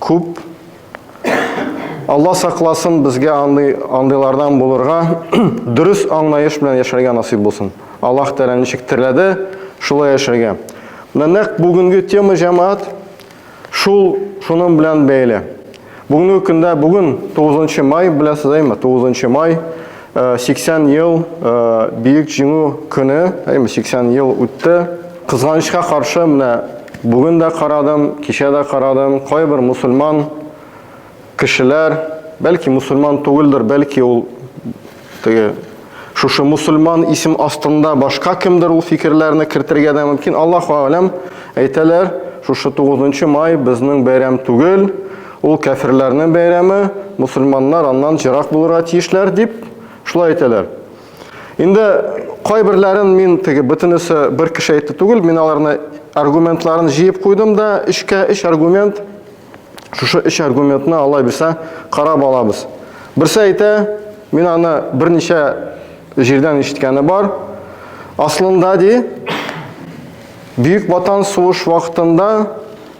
күп. Алла сакласын безгә андый андыйлардан булырга, дөрес аңлаеш белән яшәргә насыйп булсын. Аллаһ Тәгалә ничек терләде, шулай яшәргә. Менә нәкъ бүгенге тема җәмәгать шул шуның белән бәйле. Бүгенге көндә, бүген 9 май, беләсез әйме? 9 май. 80 ел Бөек Җиңү көне, әйме 80 ел үтте. Кызганычка каршы, менә бүген дә карадым, кичә дә карадым, кайбер мусульман кешеләр, бәлки мусульман түгелдер, бәлки ул теге шушы мусульман исем астында башка кемдер ул фикерләрне кертергә дә мөмкин. Аллаһу аләм әйтәләр, шушы 9 май безнең бәйрәм түгел, Ул кәферләрнең бәйрәме, мусульманнар аннан җырак булырга тиешләр дип, шулай әйтәләр. Инде кайберләрен мин теге бөтенесе бер кеше әйтте түгел, мин аларны аргументларын җыеп куйдым да, өчкә өч аргумент, шушы өч аргументны алай бирсә карап алабыз. Берсе әйтә, мин аны берничә җирдән ишеткәне бар. Аслында ди, Бөек Ватан сугыш вакытында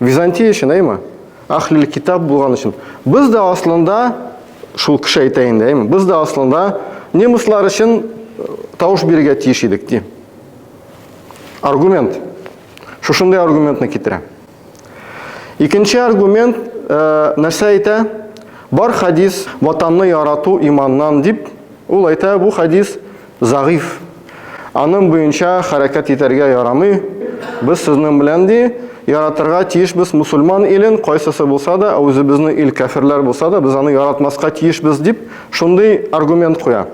Византия өчен, әйме? Ахлил китап булган өчен. Без дә аслында шул кеше әйтә инде, әйме? Без дә аслында немецлар өчен э, тавыш бирергә тиеш идек, ди. Аргумент. Шушындый аргументны китерә. Икенче аргумент э, нәрсә әйтә? Бар хадис ватанны ярату иманнан дип, ул әйтә, бу хадис Зәгыйф. Аның буенча хәрәкәт итәргә ярамый. Без сезнең белән ди, яратырга тиешбез мусульман илен, кайсысы булса да, ә үзебезнең ил кәферләр булса да, без аны яратмаска тиешбез, дип, шундый аргумент куя.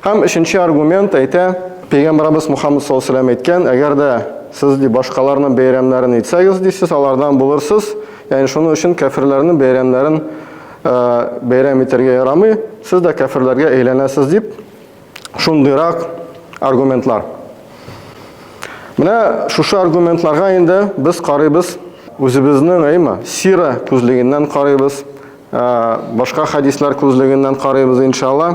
Һәм өченче аргумент әйтә, Пәйгамбәребез Мухаммад саллаллаһу алейһи ва сәлләм әйткән, әгәр дә сез ди башкаларның бәйрәмнәрен итсәгез, ди, сез алардан булырсыз, ягъни шуның өчен кәферләрнең бәйрәмнәрен бәйрәм итәргә ярамый, сез дә кәферләргә әйләнәсез, дип, шундыйрак аргументлар. Менә шушы аргументларга инде без карыйбыз, үзебезнең әйма сира күзлегеннән карыйбыз, башка хадислар күзлегеннән карыйбыз иншалла.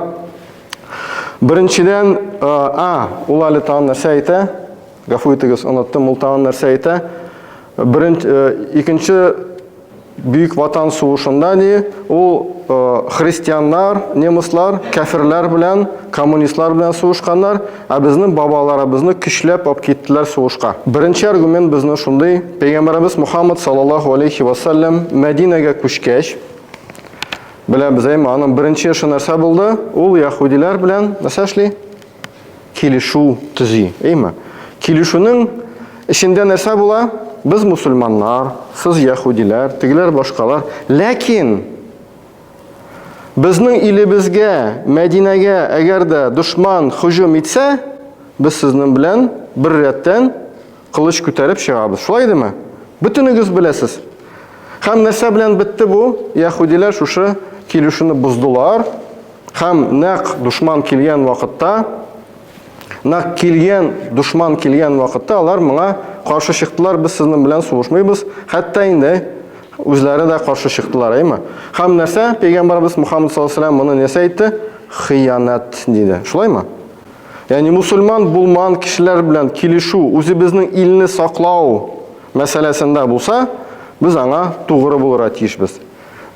Беренчедән, а, ул әле тагын нәрсә әйтә? Гафу итегез, оныттым, ул тагын нәрсә әйтә? Беренче, икенче Бөек Ватан сугышында ди, ул христианнар, немыслар, кәферләр белән, коммунистлар белән сугышканнар, ә безнең бабаларыбызны көчләп алып киттеләр сугышка. Беренче аргумент безнең шундый, пәйгамбәребез Мухаммад саллаллаһу алейхи ва саллям Мәдинәгә күчкәч, беләбез, әйме, аның беренче эше нәрсә булды? Ул яһүдиләр белән нәрсә эшли? килешү төзи, әйме? Килешүнең эчендә нәрсә була? Без мусульманнар, сез яһудиләр, тегеләр башкалар. Ләкин безнең илебезгә, Мәдинәгә әгәр дә дошман һөҗүм итсә, без сезнең белән бер рәттән Кылыч күтәреп чыгабыз. Шулай идеме? Бөтенегез беләсез. Хәм нәрсә белән бетте бу? Яһудиләр шушы килешүне боздылар. Хәм нәк душман килгән вакытта, нәк килгән душман килгән вакытта алар моңа каршы чыктылар, без сезнең белән сугышмыйбыз. Хәтта инде үзләре дә каршы чыктылар, әйме? Хәм нәрсә? Пәйгамбарыбыз Мухаммад саллаллаһу алейһи ва сәлләм моны нәрсә әйтте? Хыянәт диде. Шулаймы? Ягъни мусульман булман кешеләр белән килешү, үзебезнең илне саклау мәсьәләсендә булса, без аңа тугры булырга тиешбез.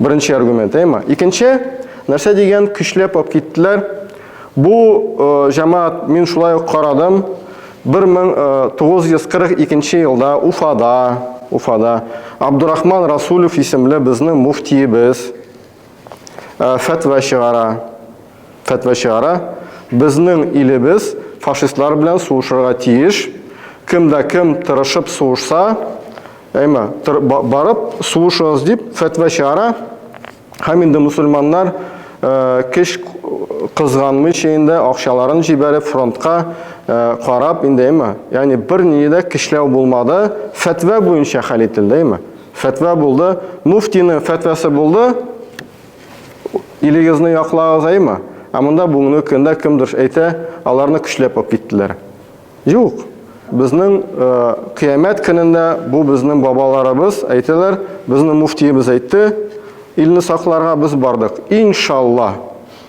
Беренче аргумент, әйма. Икенче, нәрсә дигән көчләп алып киттеләр. Бу э, җәмәгать мин шулай ук карадым. 1942 э, елда Уфада, Уфада Абдурахман Расулев исемле безнең муфтиебез фәтва чыгара. Фәтва чыгара. Безнең илебез фашистлар белән сугышырга тиеш. Кем дә кем тырышып сугышса, әйма, барып сугышыгыз дип фәтва чыгара. Һәм инде мусульманнар кеш кызганмыйча инде акчаларын җибәреп фронтка карап инде әйма. Ягъни бер ни дә кишләү булмады. Фәтва буенча хәл ителде әйма. Фәтва булды, муфтины фәтвасы булды, илегезне яклагызаймы? Ә монда бүгенге көндә кемдер әйтә, аларны көчләп алып киттеләр. Юк. Безнең э, кыямәт көнендә бу безнең бабаларыбыз әйтәләр, безнең муфтиебез әйтте, илне сакларга без бардык. Иншалла.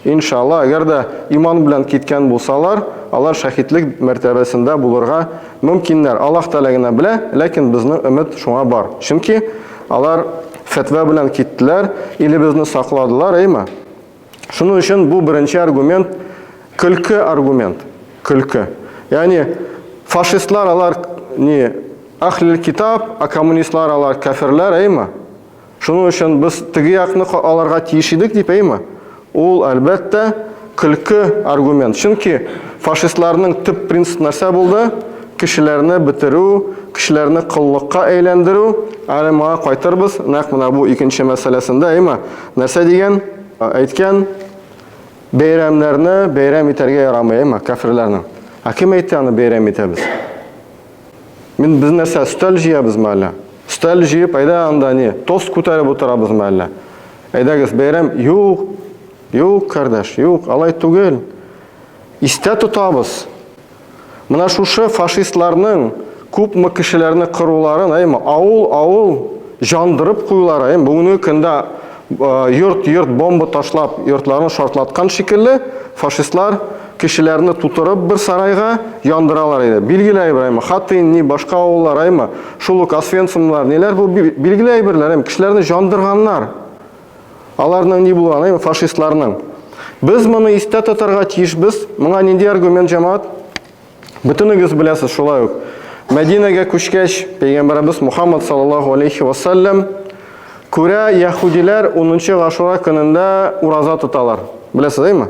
Иншалла, әгәр дә иман белән киткән булсалар, алар шәһидлек мәртәбәсендә булырга мөмкиннәр. Аллаһ Тәгалә генә белә, ләкин безнең өмет шуңа бар. Чөнки алар фәтва белән киттеләр, илебезне сакладылар, әйеме? Шуның өчен бу беренче аргумент көлке аргумент, көлке. Ягъни фашистлар алар ни, Ахлил китаб, ә коммунистлар алар кәферләр, әйеме? Шуның өчен без теге якны аларга тиеш идек дип, әйме? Ул, әлбәттә, көлке аргумент. Чөнки фашистларның төп принцип нәрсә булды? Кешеләрне бетерү, кешеләрне коллыкка әйләндерү. Әле моңа кайтырбыз, нәкъ менә бу икенче мәсьәләсендә, әйме? Нәрсә дигән? Әйткән, бәйрәмнәрне бәйрәм итәргә ярамый, әйме, кәферләрнең. Ә кем әйтте аны бәйрәм итәбез? Мин без нәрсә өстәл җыябызмы әллә? Өстәл җыеп, әйдә анда не, тост күтәреп утырабызмы әллә? Әйдәгез, бәйрәм, юк, юк, кардәш, юк, алай түгел. Истә тотабыз. Менә шушы фашистларның күпме кешеләрне кыруларын, әйме, авыл, авыл җандырып куюлары, әйме, бүгенге көндә йорт-йорт бомба ташлап, йортларын шартлаткан шикелле, фашистлар Кешеләрне тутырып бер сарайга яндыралар иде. Билгеле әйберме? Хатын, ни, башка авыллар аймы? Шул ук Освенцимлар, ниләр бу билгеле әйберләр, әм кешеләрне җандырганнар. Аларның ни булган, әйме, фашистларның. Без моны истә тотарга тиешбез. Моңа нинди аргумент җамаат? Бөтенегез беләсез шулай ук. Мәдинәгә күчкәч, пәйгамбәребез Мухаммад саллаллаху алейхи ва саллям күрә яһудиләр 10 гашура көнендә ураза тоталар. Беләсез, әйме?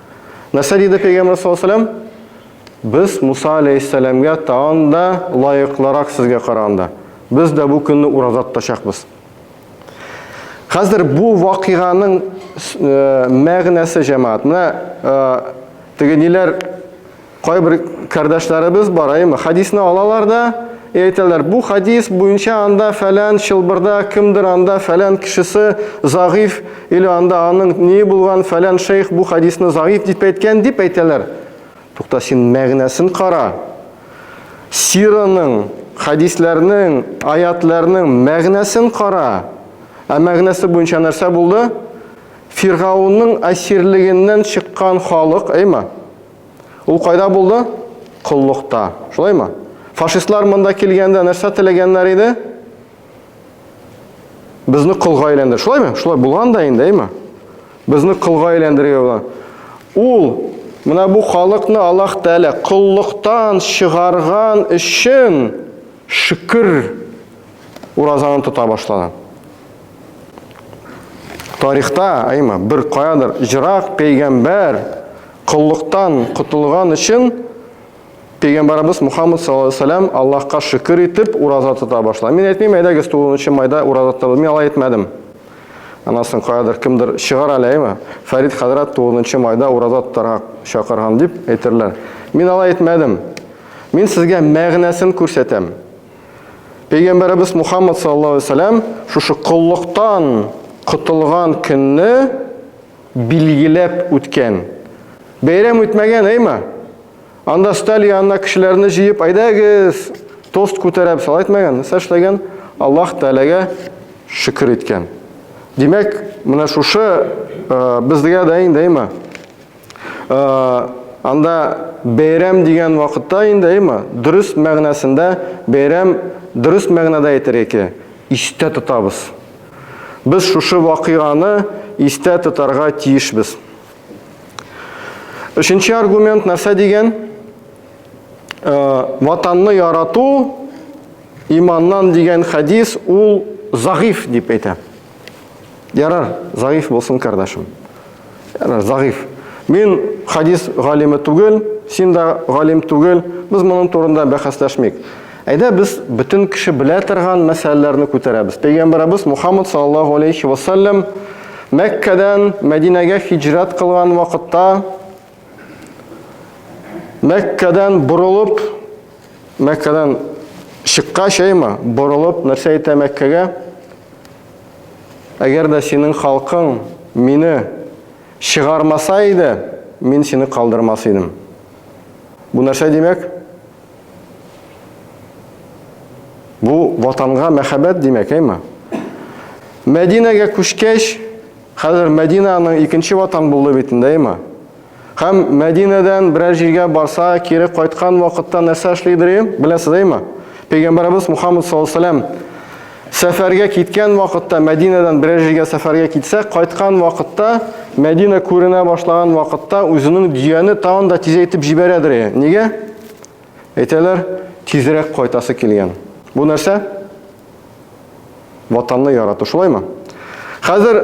Нәрсә диде пәйгамбер саллаллаһу алейһи ва Без Муса алейһиссәламгә тагын да лаеклырак сезгә караганда. Без дә бу көнне ураза тотачакбыз. Хәзер бу вакыйганың э, мәгънәсе җәмәгать. Менә э, теге ниләр Кайбер кардәшләребез бар, әйме, хадисны алалар да, әйтәләр, бу хадис буенча анда фәлән чылбырда кемдер анда фәлән кешесе загыйф или анда аның ни булган фәлән шейх бу хадисны загыйф дип әйткән дип әйтәләр. Тукта син мәгънәсен кара. Сираның, хадисләрнең, аятларның мәгънәсен кара. Ә мәгънәсе буенча нәрсә булды? Фиргаунның әсирлегеннән чыккан халык, әйме? Ул кайда булды? Коллыкта. Шулаймы? Фашистлар монда килгәндә нәрсә теләгәннәр иде? Безне колга әйләндер. Шулаймы? Шулай булган да инде, әйме? Безне колга әйләндерергә була. Ул менә бу халыкны Аллаһ Тәгалә коллыктан чыгарган өчен шөкер уразаны тота башлады. Тарихта, әйме, бер каядыр җырак пәйгамбәр Коллыктан котылган өчен Пәйгамбарыбыз Мухаммад саллаллаһу алейһи вәсәлләм Аллаһка шөкер итеп ураза тота башлады. Мин әйтмим, әйдәгез 9 майда ураза тотабыз. Мин алай әйтмәдем. Анасын каядыр кемдер чыгар әле, әйме? Фәрид хәзрәт 9 майда ураза тотарга чакырган дип әйтерләр. Мин алай әйтмәдем. Мин сезгә мәгънәсен күрсәтәм. Пәйгамбарыбыз Мухаммад саллаллаһу алейһи вәсәлләм шушы коллыктан котылган көнне Билгеләп үткән. Бәйрәм үтмәгән, әйма. Анда сталь янына кешеләрне җыеп, әйдәгез, тост күтәрәб, салай әйтмәгән. Нәрсә эшләгән? Аллаһ Тәгаләгә шөкер иткән. Димәк, менә шушы безгә дә инде, әйма. Анда бәйрәм дигән вакытта инде, әйма, дөрес мәгънәсендә бәйрәм дөрес мәгънәдә әйтергә кирәк. Истә тотабыз. Без шушы вакыйганы истә тотарга тиешбез. Өченче аргумент нәрсә дигән? Э, ватанны ярату иманнан дигән хәдис ул загыйф дип әйтә. Ярар, загыйф булсын, кардәшем. Яна загыйф. Мин хадис галиме түгел, син дә галим түгел. Без моның турында бәхәсләшмик. Әйдә без бөтен кеше белә торган мәсьәләләрне күтәрәбез. Пәйгамбәребез Мухаммад саллаллаһу алейхи ва саллям Мәккәдән Мәдинәгә хиҗрат кылган вакытта Мәккәдән борылып Мәккәдән чыккач, әйме, борылып нәрсә әйтә Мәккәгә? Әгәр дә синең халкың мине чыгармаса иде, мин сине калдырмас идем. Бу нәрсә димәк? Бу ватанга мәхәббәт димәк, әйме? Мәдинәгә күчкәч, хәзер Мәдинә аның икенче ватан булды бит инде, әйме? Һәм Мәдинәдән берәр җиргә барса, кире кайткан вакытта нәрсә эшлидер ем? Беләсез әйме? Пәйгамбәребез Мухаммад саллаллаһу алейһи сәфәргә киткән вакытта, Мәдинәдән берәр җиргә сәфәргә китсә, кайткан вакытта, Мәдинә күренә башлаган вакытта үзенең дөяне тагын да тизәйтеп җибәрәдер. Нигә? Әйтәләр, тизрәк кайтасы килгән. Бу нәрсә? Ватанны ярату, шулаймы? Хәзер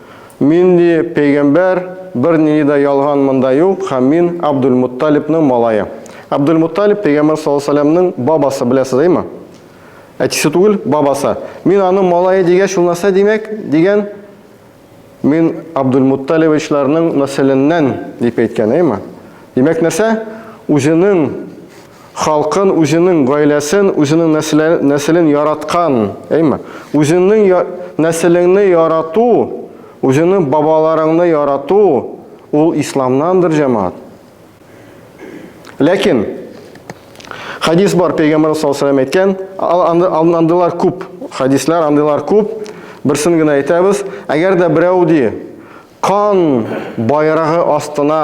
Мин, ди, пәйгамбәр, бернинди дә ялган монда юк, һәм мин Абдулмутталибның малае. Абдулмутталиб пәйгамбәр саллаллаһу алейһи ва сәлләмнең бабасы, беләсез, әйме? Әтисе түгел, бабасы. Мин аның малае дигәч, ул нәрсә димәк? дигән. Мин Абдулмутталибичларның нәселеннән, дип әйткән, әйме? Димәк, нәрсә? Үзенең халкын, үзенең гаиләсен, үзенең нәселен яраткан, әйме? Үзеңнең нәселеңне ярату, үзеңнең бабаларыңны ярату ул исламнандыр, җәмәгать. Ләкин хадис бар, пәйгамбәр саллаллаху алейһи әйткән, андыйлар күп, хадислар андыйлар күп. Берсен генә әйтәбез, әгәр дә берәү ди, Кан байрагы астына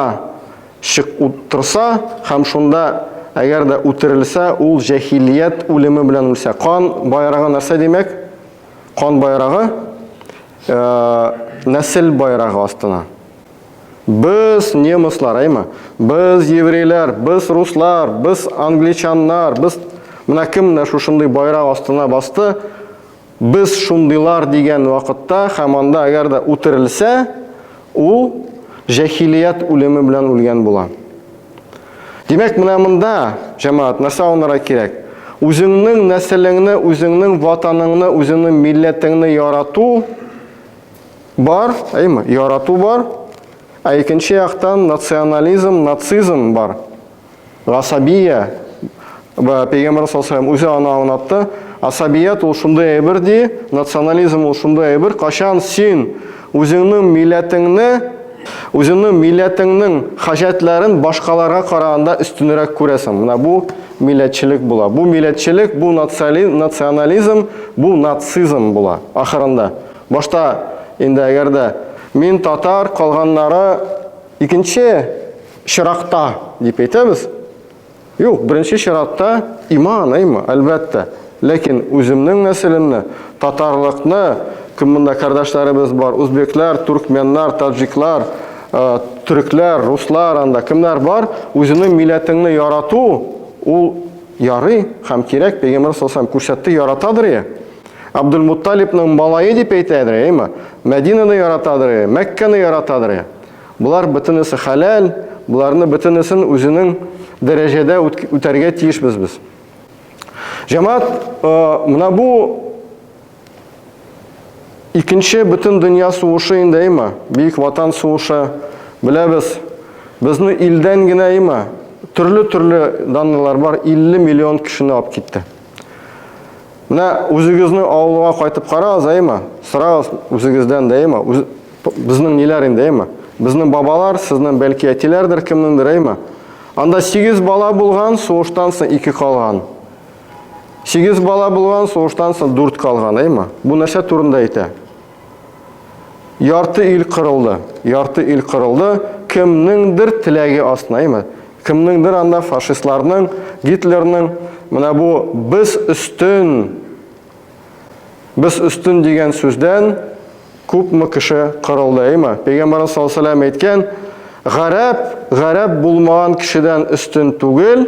чык утырса һәм шунда әгәр дә үтерелсә, ул җәһилият үлеме белән үлсә. Кан байрагы нәрсә димәк? Кан байрагы э, нәсел байрагы астына. Без немыслар, әйме? Без еврейлар, без руслар, без англичаннар, без менә кем менә шушындый байрак астына басты, Без шундыйлар дигән вакытта һәм анда әгәр дә үтерелсә, ул җәһилият үлеме белән үлгән була. Димәк, менә монда, җәмәгать, нәрсә аңларга кирәк? Үзеңнең нәселеңне, үзеңнең ватаныңны, үзеңнең милләтеңне ярату бар, әйме? Ярату бар. Ә икенче яктан национализм, нацизм бар. Гасабия Пәйгамбәр саллаллаху үзе аны аңлатты. Асабият ул шундый әйбер ди, национализм ул шундый әйбер, кашан син үзеңнең милләтеңне, үзеңнең милләтеңнең хаҗәтләрен башкаларга караганда өстенрәк күрәсең. Менә бу милләтчелек була. Бу милләтчелек, бу национализм, бу нацизм була ахырында. Башта инде әгәр дә мин татар, калганнары икенче чиратта дип әйтәбез. Юк, беренче чиратта иман, әйме, әлбәттә. Ләкин үземнең нәселемне, татарлыкны, кем монда кардәшләребез бар, узбеклар, туркменнар, таджиклар, э, төрекләр, руслар, анда кемнәр бар, үзеңнең милләтеңне ярату, ул ярый һәм кирәк, пәйгамбер саллаллаху күрсәтте, яратадыр я. Абдулмутталибның малае дип әйтәдер, әйме? Мәдинаны яратадыр, Мәккәне яратадыр. Болар бөтенесе хәләл, боларны бөтенесен үзенең дәрәҗәдә үтәргә тиешбез без. Җәмәгать, э, менә бу икенче бөтен дөнья сугышы инде әйма, Бөек Ватан сугышы, беләбез. Безне илдән генә әйма, төрле-төрле данлылар бар, 50 миллион кешене алып китте. Менә үзегезне авылга кайтып карагыз, әйме? Сорагыз үзегездән дә, әйме? Үз... Безнең ниләр инде, әйме? Безнең бабалар, сезнең бәлки әтиләрдер, кемнеңдер, әйме? Анда 8 бала булган, сугыштан соң 2 калган. 8 бала булган, сугыштан соң 4 калган, әйме? Бу нәрсә турында әйтә? Ярты ил кырылды. Ярты ил кырылды. Кемнеңдер теләге астына, әйме? Кемнеңдер анда фашистларның, Гитлерның менә бу без өстен без өстен дигән сүздән күпме кеше кырылды, әйме? Пәйгамбәрбез саллаллаһу алейһи ва әйткән, гарәп, гарәп булмаган кешедән өстен түгел,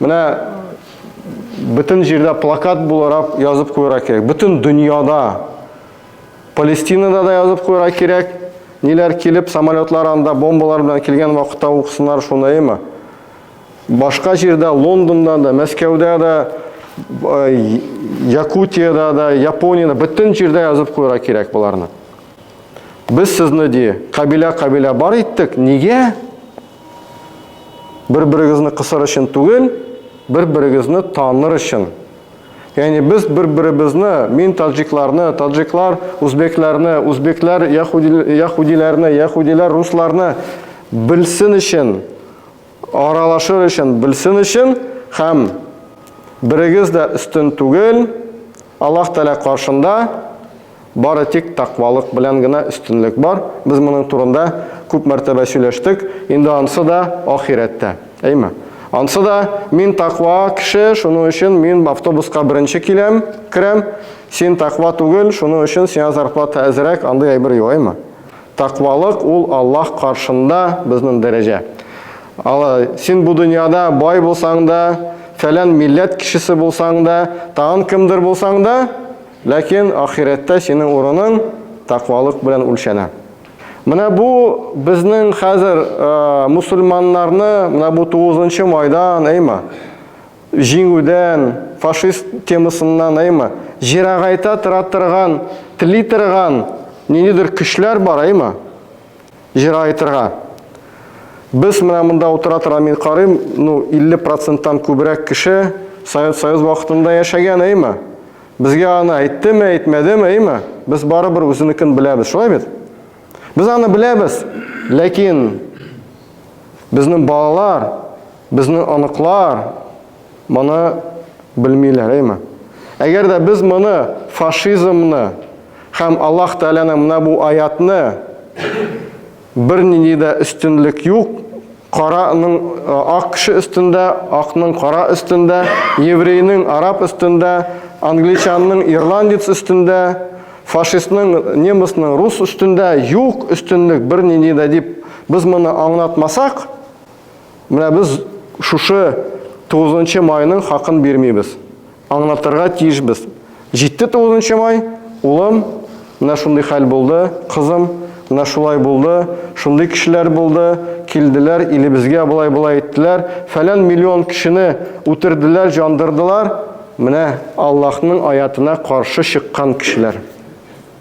Менә бөтен җирдә плакат буларак язып куйырга кирәк. Бөтен дөньяда, Палестинада да язып куйырга кирәк. Ниләр килеп, самолетлар анда бомбалар белән килгән вакытта уксыннар шуныймы? Башка җирдә, Лондонда да, Мәскәүдә дә, Якутиядә дә, Япониядә, бөтен җирдә язып куйырга кирәк боларны. Без сезне ди, кабилә-кабилә бар иттек. Нигә? Бер-берегезне кысыр өчен түгел, бер-берегезне таныр өчен. Яни без бер-беребезне, мин таҗикларны, таҗиклар узбекларны, узбеклар яхудиларны, яхудилар русларны белсен өчен, аралашыр өчен, белсен өчен һәм берегез дә өстен түгел, Аллаһ Тәгалә каршында бары тик тәкъвалык белән генә өстенлек бар. Без моның турында күп мәртәбә сөйләштек. Инде ансы да ахирәттә. Әйме? Ансы да мин тәкъва кеше, шуның өчен мин автобуска беренче киләм, керәм. Син тәкъва түгел, шуның өчен сиңа зарплата әзрәк, андый әйбер юк, әйме? Таквалык ул Аллаһ каршында безнең дәрәҗә. Ала, син бу дөньяда бай булсаң да, фәлән милләт кешесе булсаң да, тагын кемдер булсаң да, ләкин ахирәттә синең урының таквалык белән үлчәнә. Менә бу безнең хәзер мусульманнарны менә бу 9 нчы майдан, әйма. Җиңүдән, фашист темасыннан әйма, җирагайта тора торган, тли торган ниндидер көчләр бар әйма, җирагайтырга. Без менә монда утыра тора мин карыйм, ну 50 проценттан күбрәк кеше Совет Союз вакытында яшәгән әйма. Безгә аны әйттеме, әйтмәдеме әйма, без барыбер үзенекен беләбез, шулай бит? Без аны беләбез, ләкин безнең балалар, Безнең оныклар моны белмиләр, әйме? Әгәр дә без моны, фашизмны һәм Аллаһ Тәгаләнең менә бу аятны, бернинди дә өстенлек юк, караның ак кеше өстендә, акның кара өстендә, еврейның араб өстендә, англичанның ирландец өстендә, фашистның, немецның рус өстендә юк өстенлек бернинди дә дип без моны аңлатмасак, Менә без шушы 9 майның хакын бирмибез. Аңлатырга тиешбез. Җитте 9 май, улым, менә шундый хәл булды, кызым, менә шулай булды, шундый кешеләр булды, килделәр, илебезгә болай-болай иттеләр, фәлән миллион кешене үтерделәр, җандырдылар, менә Аллаһның аятына каршы чыккан кешеләр.